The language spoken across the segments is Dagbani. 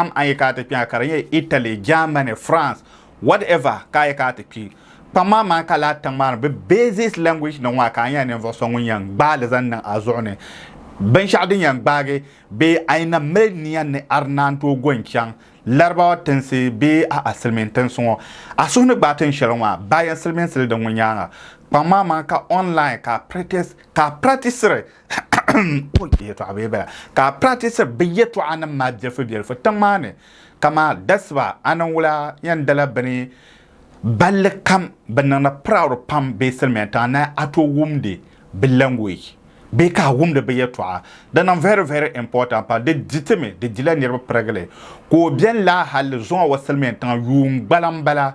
Kpam a yi ka a ti kpɛŋa ka di nyɛ Italy, Germany, France, whatever ka a yi ka a ti kpi, kpam maa maa ka laa tiŋ maa ni bɛ basis language ni ŋɔ ka a nyɛla ninvuɣu so ŋun yɛn gbaai li zaŋ niŋ a zuɣu ni binshɛɣu din yɛn gbaagi bee a yi na mali nia ni a di naan tooi go n-chaŋ Larabawa tinsi bee a'a Silimiin tinsi ŋɔ a suhu ni gbaai tin shɛli ŋɔ maa baa yɛn silimiinsi li di ŋɔ nyaaŋa. Kpam maa maa ka online ka a practice ka a practice-ri yɛtɔɣa bee bala ka a practisiri bɛ yɛtɔɣanim maa bilifubilifu tiŋ maa ni, kaman dasiba a ni wula yɛn dala bɛ ni balli kam bɛ niŋdi proud pam bee silimiya tiŋa ni a tooi wumdi bɛ language bee ka a wumdi bɛ yɛtɔɣa di niŋ very very important pam di di ti mi di dila niriba pirigili ka o beni laa hali zuŋɔ wa silimiya tiŋa yuun gbala m-bala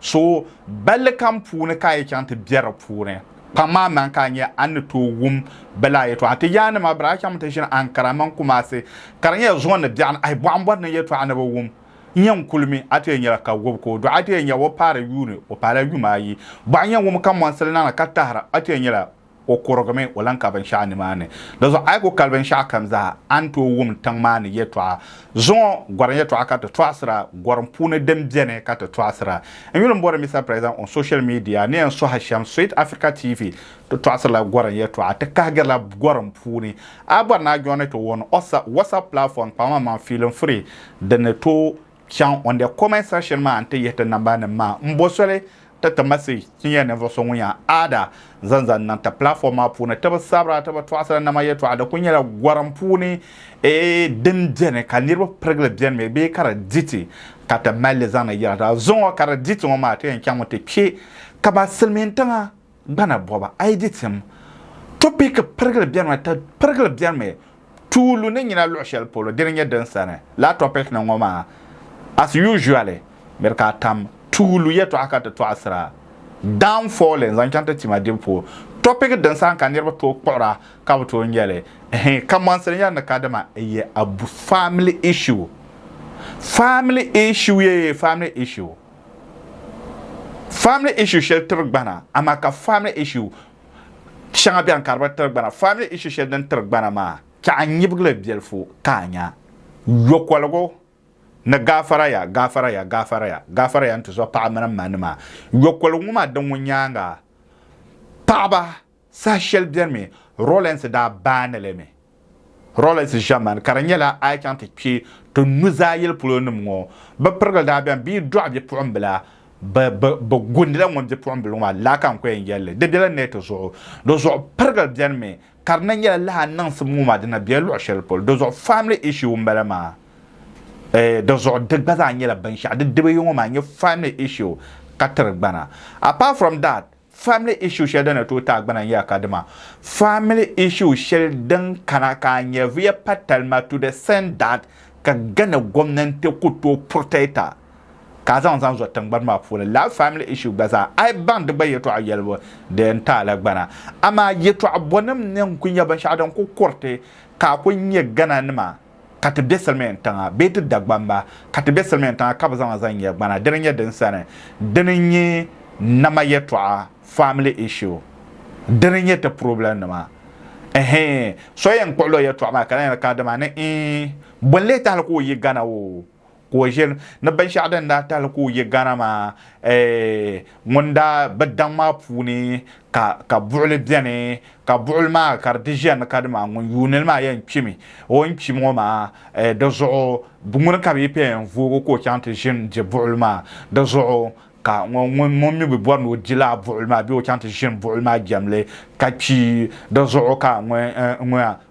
So balli kam puuni ka a yi chaŋ ti bɛ di puuni, kpaŋ maa man ka a nya a ni tooi wum bɛ laa yɛtɔɣa. Ti yaanima bɛ daa chaŋmi ti ʒini Ankara mini Kumasi ka di nyɛla zuɣu ni biɛɣuni ayi bɔɣu m-bɔri ni yɛtɔɣa ni bi wum nya n-kuli mi. A ti yɛn nyɛla ka gɔbi ka o dɔɣi. A ti yɛn nya o paari yuuni, o paala yuma ayi. Bɔɣu yɛn wum ka mɔnsili niŋ ni ka tahira, a ti yɛn nyɛla O kurigimi, o lan ka binshɛɣu nimaani. Di zuɣu a yi ku kali binshɛɣu kam zaa, a ni tooi wum tiŋ maa ni yɛtɔɣa. Zuŋɔ gɔrim yɛtɔɣa ka ti tɔɣisira, gɔrim puuni din beni ka ti tɔɣisira. N yuli m-bɔri Mister President on social media ni yɛn sɔhi shɛm Sweet Africa TV, ti tɔɣisirila gɔrim yɛtɔɣa, ti kahigirila gɔrim puuni. A yi bɔri ni a joini ti on WhatsApp platform kpaŋmaŋmaŋ feeling free, di ni tooi. Chaŋ on the comment section maa n ti yihi ti namba nim maa n bo soli ti ti message ti nyɛ ninvuɣu so ŋun yan aada zaŋ zaŋ niŋ ti platform maa puuni ti bi sabira ti bi tɔɣisira nama yɛtɔɣa di kuli nyɛla gɔrim puuni din beni ka niriba pirigili beni mi bee ka di di ti ka ti mali li zaŋ ni yɛltɔɣa zuŋɔ ka di di ti ŋɔ maa ti yan chaŋ mi ti kpe ka ba silimiintiŋa gbana bɔba ayi di tim topiki pirigili bɛri mi ti pirigili bɛri mi tuulu ni nyina luɣi shɛli polo dini nyɛ din sani laa topiki ni ŋɔ maa as usually miri ka a tam tuulu yɛtɔɣa ka ti tɔɣisira down falling zaŋ chaŋ ti tima dibu puuni topiki din sani ka niriba tooi kpuɣira ka bi tooi nyɛli ɛhɛn kamɔnsili nyɛri ni kadima ɛyɛ abu family issue family issue yee family issue. Family issue shɛli tiri gbana amaa ka family issue shɛŋa bɛni ka di bi tiri gbana. Family issue shɛli din tiri gbana maa ka a nyibigi li biɛlifu ka a nya. Yokoligu ni gaafara ya, gaafara ya, gaafara ya, gaafara ya n-ti zo paɣa mini m ma nima. Yokoligu ŋɔ maa din ŋun nyaaŋa paɣaba. Saha shɛli beni mi Rawlings daa baani li mi. Rawlings ʒemani ka di nyɛla a yi chaŋ ti kpe ti nuzaa yili polo nim ŋɔ bɛ pirigili daa beni bɛ yi dɔɣi bipuɣimbila bɛ bɛ bɛ gundila ŋun bipuɣimbili ŋɔ maa laa ka n ko yɛn yɛli li. Di bela neeti zuɣu. Di zuɣu pirigili beni mi ka di na nyɛla lala niŋsim ŋɔ maa di na bela luɣi shɛli polo. Di zuɣu family issue m bala maa eeh di zuɣu di gba zaa nyɛla binshɛɣu di diba yi ŋɔ maa n-nyɛ family issue ka tiri gbana. Apart from that Family issue shɛli din ni tooi taai gbana n-nyɛla kadima family issue shɛli din kana ka a nyɛviya pa talima to the extent that ka Ghana gomnanti ku tooi protecta ka a zaŋ zaŋ zo tingbani maa puuni. Lala family issue gba zaa a yi baŋ di gba yɛtɔɣa yɛlibu di yɛn taai la gbana. Amaa yɛtɔɣa bɔnim ni n-kuli nyɛ binshɛɣu din kuli kuriti ka a kuli nyɛ Ghana nima. ka ti be silimiin tiŋa bee ti Dagbam ba ka ti be silimiin tiŋa ka bɛ zaŋ ma zaŋ nyɛ gbana dini nyɛ din sani dini nyɛ nama yɛtɔɣa family issue dini nyɛ ti problem nima ɛhee so yɛn kpuɣila o yɛtɔɣa maa ka lahi yɛli ka dama ni ii bɔ n-lee tahili ka o yi Ghana oo ka o ʒiri ni binshɛɣu din daa tahili ka o yi Ghana maa ŋun daa bi daŋ maa puuni ka ka buɣuli beni ka buɣuli maa ka di di ʒiya ni ka di maa ŋun yuuni li maa yɛn kpimi o ni kpi ŋɔ maa di zuɣu ŋuni ka bɛ yi paya yɛn voogi ka o chaŋ ti ʒini di buɣuli maa di zuɣu ka ŋun mi bi bɔri ni o di lala buɣuli maa bee o chaŋ ti ʒini buɣuli maa jɛmli ka kpi di zuɣu ka ŋɔ ŋɔ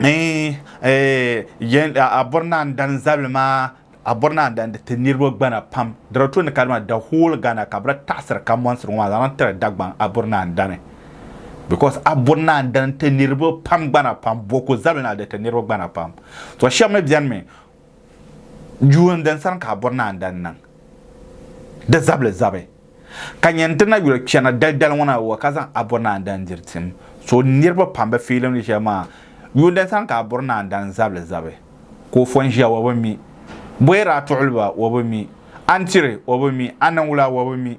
eh, eh, yen, a, a bɔri naan dani zabili maa a bɔri naan dani ti niriba gbana pam dara to ni kadima the whole Ghana ka bira taɣisiri ka mɔnsiri ŋɔ maa zaŋ tiri Dagbaŋ a bɔri naan dani because a bɔri naan dani ti niriba pam gbana pam bɔku zabili na di ti niriba gbana pam so shɛba mi bɛni mi Yuun din sani ka a bɔri ni a ni daa niŋ di zabili zabi, ka nya nti na yuli kpɛna dalidali ŋɔ na wa ka zaŋ a bɔri ni a ni daa n-diri tim. So niriba pam bi fiilim di shɛli maa. Yuun din sani ka a bɔri ni a ni daa n-zabili zabi, ka o fɔn ʒiya wa bi mi, bɔyir a tuɣili ba wa bi mi, a ni tiri wa bi mi, a niŋ wula wa bi mi.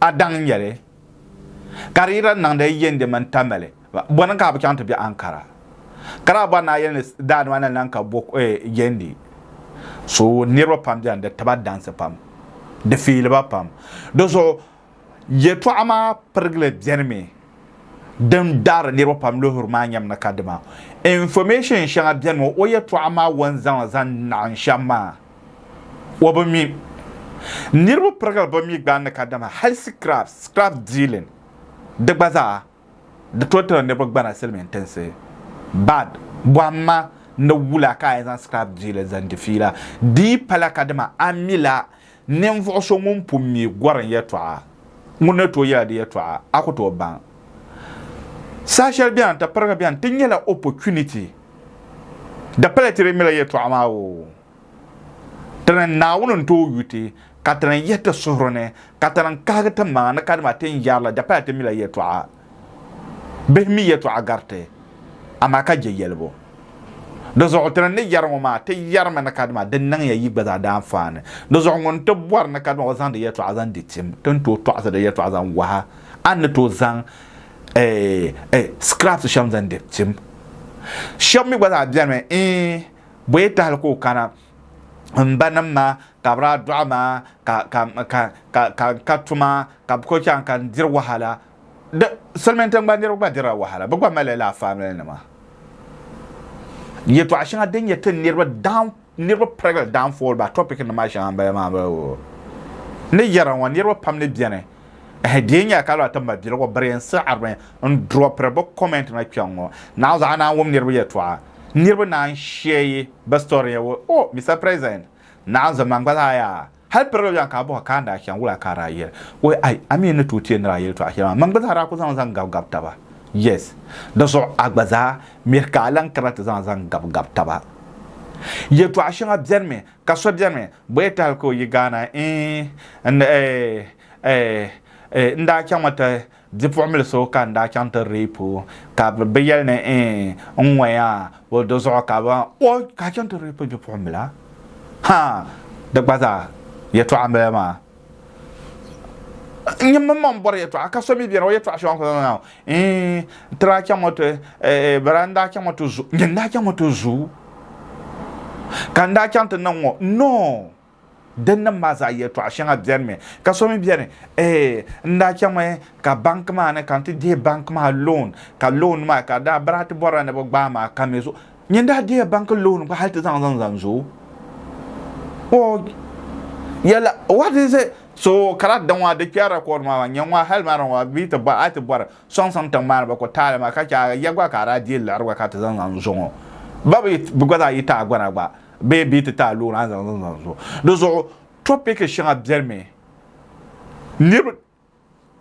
A daŋ nyɛ li ka di yi daa niŋdi yi yindi mini Tamale, bɔ ni ka a bi chaŋ ti be Ankara? Ka daa bɔri ni a yɛli ni daa nima ni lan ka bɔ yindi? So niriba pam beni di tiba dansi pam, di fiili ba pam. Di zuɣu yɛtɔɣa maa pirigili beni mi din daari niriba pam luhiri maa nyɛmi ni kadima information shɛŋa beni mi o yɛtɔɣa maa o ni zaŋ li zaŋ naɣim shɛm maa. o bi mi. Niriba pirigili bi mi gbaani kadama hali scrap, scrap dealing, di gba zaa di tooi tiri niriba gbana silimiin tinsi bad bɔhimma ni wula ka a yi zaŋ scrap dealing zaŋ di fiila di yi pala kadama a mila ninvuɣu so ŋun pun mi gɔrim yɛltɔɣa ŋun ni tooi yɛla di yɛltɔɣa a ku tooi baŋ saha shɛli beni ti pirigi beni ti nyɛla opportunity Di pala ti di mila yɛtɔɣa maa o Ti ni Naawuni n-tooi yu ti, ka ti ni yihi ti suhuri ni, ka ti ni kahigi ti maŋa ni kadama ti ni yɛri la di pala ti mila yɛtɔɣa. Bihi mi yɛtɔɣa gari ti, amaa ka je yɛlibu. Di zuɣu ti ni ni yɛri ŋɔ maa, ti yɛrimi ni kadama di niŋ ya yi gba zaa daa anfaani. Di zuɣu ŋun ti bɔri ni kadama o zaŋdi yɛtɔɣa zaŋ di tim, ti ni tooi tɔɣisi di yɛtɔɣa zaŋ wahi a ni tooi zaŋ eh, eh, scraps shɛm zaŋ diri tim shɛm mi gba zaa bɛni mi eh, bɔye tahali ka o kana n ba nim maa ka bi daa dɔɣi maa ka ka ka ka ka n ka tuma ka bi ko chaŋ ka n diri wahala di silmiin tiŋgbani niriba gba dirila wahala bi gba mali laa family nima yɛtɔɣa shɛŋa din nyɛ tin niriba down Niriba pirigili daanfooli ba topic nim maa shɛŋa n bala maa bala woo. Ni yɛra ŋɔ niriba pam ni beni ehe di yi nyɛla ka lala ti mali biligu biri n siɣirimi n dropiri bi comment na kpɛŋ ŋɔ naɣi zuɣu a naan wum niriba yɛltɔɣa niriba naan share yi bi story ya woo oh Mister President naɣi zom man gba zaa yaa Hal piri la yɔɣu ka a bɔh ka a ni daa chaŋ wula ka a daa yɛli o, Ai, a mi yi ni tooi ti yɛn ni daa yɛli tɔɣu shɛli maa, mani gba zaa daa ku zaŋ zaŋ gabi gabi taba. Yes. Di zuɣu a gba zaa mihi ka a lan kana ti zaŋ zaŋ gabi gabi taba. Yɛtɔɣa shɛŋa bɛnimi ka so bɛnimi bɔ ya ti hali ka o yi Ghana, Eeh, n, eeh, eeh, eeh, n daa chaŋmi ti Bipuɣimbili so ka n daa chaŋ ti reep o, ka bɛ bɛ yɛli ni eeh n ŋɔya o do zuɣu ka bɛ oh ka a chaŋ ti reep bipuɣimbila? Ha! Di gba zaa yɛtɔɣa m-bala maa. N nyini mmaŋ bɔri yɛtɔɣa ka so mi beni o yɛtɔɣa shɛŋa kuli zaŋ zaŋ eeh ti daa chaŋ o ti eeh bala n daa chaŋ o ti zu nyini daa chaŋ o ti zu ka n daa chaŋ ti niŋ ŋɔ no! Dinnim maa zaa yɛltɔɣa shɛŋa bɛnimi ka so mi bɛni ee n daa chaŋmi ka bank maa ni ka n ti dihi bank maa loan ka loan maa ka daa bira ti bɔrila ni bi gbaai maa ka mi zuɣu nyin daa dihiya bank loan gba hali ti zaŋ zaŋ zaŋ zo o yɛla what is it so kala da ŋɔ di kpɛri record maa nyɛ ŋɔ hali mara ŋɔ bi ti bɔri a ti bɔri sɔŋ sɔŋ tiŋ maa ni ba ku taali maa ka chɛ ya gba ka a daa dihi liɣiri gba ka ti zaŋ zaŋ zo ŋɔ ba bi gba zaa yi taagona gba bee bɛ yi ti taai loori a ni zaŋ zaŋ zani zuɣu di zuɣu tɔpiki shɛŋa bɛlimi niriba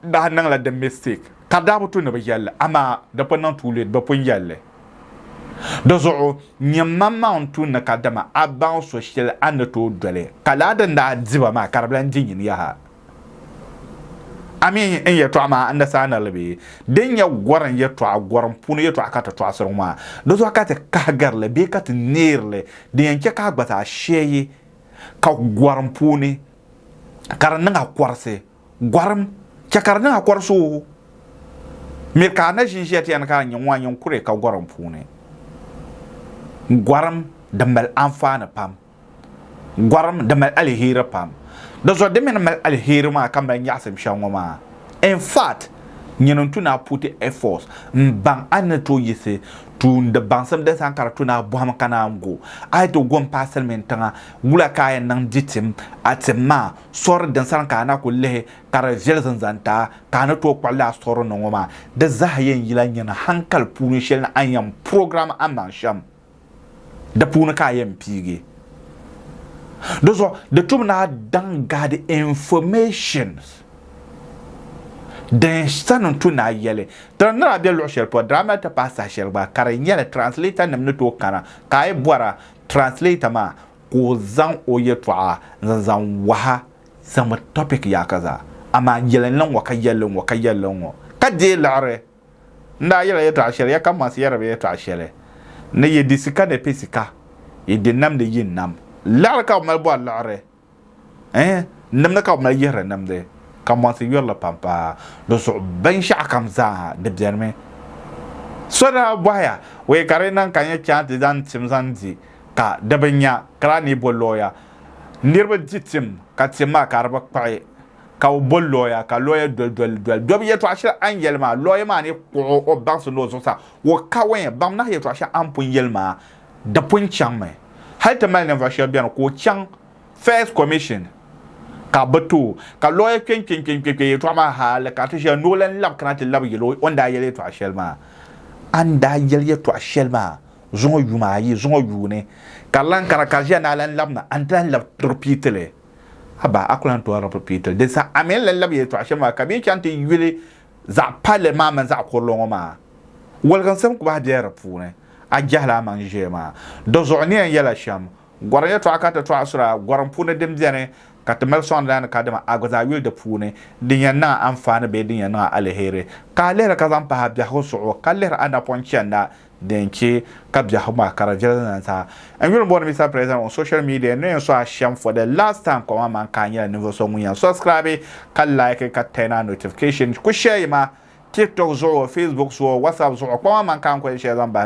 daa niŋla di mistake ka daa bi tu ni bi yɛli li amaa di pun niŋ too late bi pun yɛli li di zuɣu nyɛ man maa n tu ni kadama a baŋ so shɛli a ni tooi doli ka laa din daa diba maa ka di bi lan di nyini yaha Amin n yɛtɔɣa maa n saa nirili bee? Din nyɛ gɔrim yɛtɔɣa, gɔrim puuni yɛtɔɣa ka ti tɔɣisiri ŋɔ maa, di zuɣu ka ti kahigiri li bee ka ti neeri li, din yɛn chɛ ka a gba zaa shɛyi ka gɔrim puuni ka di niŋ a kɔrisi. Gɔrim chɛ ka di niŋ a kɔrisi o. Miri ka a na ʒinʒiya ti yɛn ni ka a nya ŋɔ, a nyin kuri ka gɔrim puuni. Gɔrim, di mali anfaani pam. Gɔrim di mali aliheri pam. Di zuɣu di mi ni mali aliheri maa ka mali nyaɣisim shɛŋa ŋɔ maa. In fact, nyini n-tu ni a put effort m-baŋ a ni tooi yiɣisi tuumdi baŋsim din sani ka di tu ni a bɔhim ka naan go. A yi ti go m-paai silimin tiŋa, wula ka a yɛn niŋ di tim a tim maa sɔri din sani ka a na ku lihi ka di viɛli zinzantaa ka a ni tooi kpuɣi li a sɔri ni ŋɔ maa? Di zaa yɛn yila nyini hankali puuni shɛli ni a ni yɛn program a maŋ shɛm. Di puuni ka a yɛn piigi. Di zuɣu di tum ni a daŋ gaadi information din sani n-tu ni a yɛli. Tiri ni daa be luɣ shɛli polo, daa mali ti paai saha shɛli gba ka di nyɛli translator nim ni tooi kana ka a yi bɔra translator maa ka o zaŋ o yɛtɔɣa n-zaŋ waha zaŋmi topic yaakaza amaa yɛli n-niŋ ŋɔ ka yɛli n-ŋɔ ka yɛli n-ŋɔ ka deei liɣiri. N daa yɛla yɛtɔɣ shɛli ya ka mɔɣisi yɛri bɛ yɛtɔɣ shɛli ni yi di sika ni piɛ sika, yi di nam ni yi nam liɣiri ka bɛ mali bɔri liɣiri, ɛɛh, nimdi ka bɛ mali yihiri nimdi, ka mɔɣisi yuri li pam paai di zuɣu binshɛɣukam zaa di bɛnimi. So daa bɔhi ya, Wee ka di niŋ ka n yi chaŋ ti zaŋ tim zaŋ di ka di bi nya, ka lahi ni yi bo looya niriba di tim ka tim maa ka di bi kpuɣi? ka o bo lɔya ka lɔya doli doli doli dɔbi yɛtɔɣa shɛli a ni yɛli maa lɔya maa ni kpuɣi o baŋsi ni o zuɣusaa o kaɔnya baŋ nahi yɛtɔɣa shɛli a ni pun yɛli maa di pun chaŋmi hali ti mali ninvuɣ shɛba beni ka o chaŋ First Commission ka bɛ ti o ka lɔya kpe n-kpe n-kpe n-kpe n-kpe yɛtɔɣa maa hali ka ti ʒiya ni o lan labi kana ti labi yɛl o o ni daa yɛli yɛtɔɣa shɛli maa a ni daa yɛli yɛtɔɣa shɛli maa zuŋɔ yuma ayi zuŋɔ yuuni ka di lan kana ka di ʒiya ni a lan labi na a ni ti lan labi ripiiti li. Abaa, a ku lan tɔri bɛ piitil din sa Ameen la lab yɛltɔɣ shɛm maa ka bɛ yi chaŋ ti yuli zaɣ palli maa mini zaɣ kurili ŋɔ maa waligiŋsim kubahi bela di puuni. A jɛhila a maŋ ʒee maa. Dɔzuɣu ni yɛn yɛla shɛm, gɔrim yɛltɔɣa ka ti tɔɣi asura gɔrim puuni din beni ka ti mali sɔŋdi la ni ka dama a gba zaa yuli di puuni din yɛn niŋ a anfaani bee din yɛn niŋ a aliheri. Ka a lihiri ka zaŋ pahi a biɛhigu suɣu ka lihiri a napɔŋ chanda din chɛ ka biɛhigu maa kara viɛli na sa. N yuli bɔri Mister President on social media ni yɛn sɔhi shɛm for the last time kɔŋ aman ka a nyɛla ninvuɣu so ŋun yɛn subscribe ka like ka turn on notification ku share yi ma TikTok zuɣu, Facebook zuɣu, WhatsApp zuɣu kɔŋ aman ka n ku yɛn share zaŋ bahi